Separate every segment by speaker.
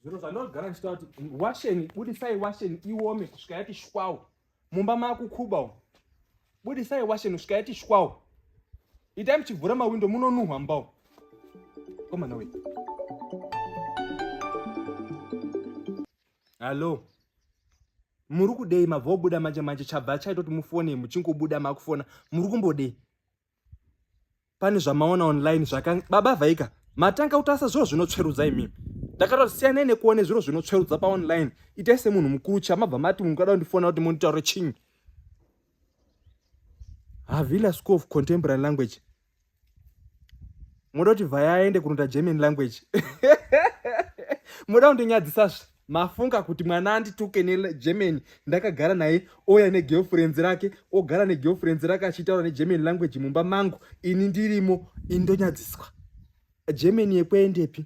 Speaker 1: zviro zvanogara ndichitaura kuti washeni budisai washeni iome kusvika yati shwawo mumba makukuba umu budisai washeni kusvika yati shwawo itai muchivhura mawindo munonuhwa mbawo komana wei hallo muri kudei mabva obuda manje manje chabva chaitoti mufone muchingobuda makufona muri kumbodei pane zvamaona online zvaka baba vhaika matanga kutasa zviro zvinotsverudza imimi ndakatoti siyanai nekuone zviro zvinotsverudza paonline itai semunhu mukuru chamabva mati munhu kada kundifona kuti monditaure chinyi havila school of contemporary language moda kuti vhaya aende kunoita german language moda kundinyadzisazve mafunga kuti mwana andituke negerman ndakagara naye ouya negirlfriends rake ogara negirlfriends rake achitaura negerman language mumba mangu ini ndirimo indonyadziswa german yekuendepi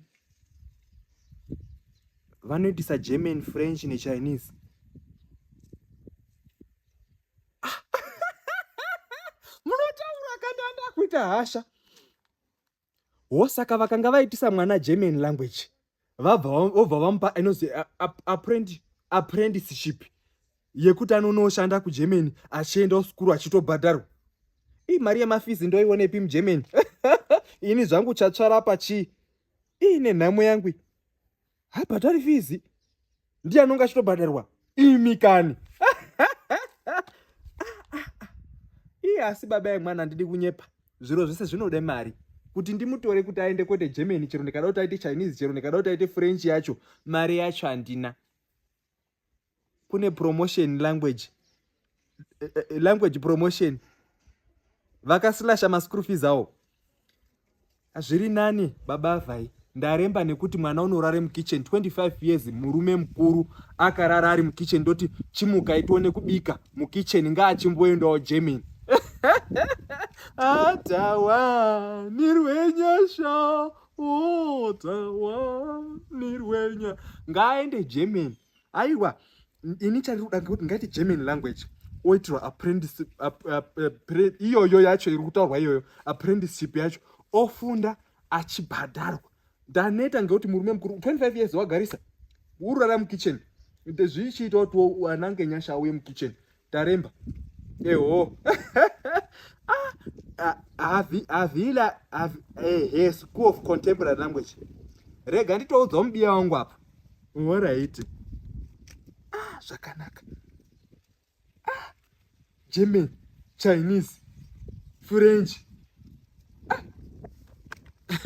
Speaker 1: vanoitisa german french nechinese ah. munotaura kandanda kuita hasha wo saka vakanga vaitisa mwana german language vobva vamupa inozi apprenticeship yekuti anonoshanda kugermany achiendawo sukuru achitobhadharwa ii mari yemafizi ndoionepi mugermany ini zvangu chatsvara pachii iine nhamo yangu habhadhari fizi ndiye anonge achitobhadharwa imi kani iye asi baba yemwana handidi kunyepa zviro zvese zvinode mari kuti ndimutore kuti aende kwete germany chero ndikada kuti aite chinese chero ndikada kuti aite french yacho mari yacho handina kune promotion language eh, eh, eh, language promotion vakasilasha maschool fees awo zviri nani baba vhai ndaremba nekuti mwana unorare mukitchen 25 years murume mukuru akarara ari mukitchen ndoti chimuka itione kubika mukitchen ngaachimboendawo germany atawa nirwenyasha otawa nirwenya ngaaende germany aiwa ini chandiri kuda ngekuti ngaiti german language oitirwa apprenticeship iyoyo yacho iri kutaurwa iyoyo apprenticeship yacho ofunda achibhadharwa ndaneta ngekuti murume mukuru 25 years wagarisa ururara mukitchen zvichiita kuti anange nyasha auye mukitchen taremba eho ah, ah, avila ehe eh, school of contemporary language rega nditoudzawo mubiya wangu apa horaiti ah, zvakanaka ah, german chinese french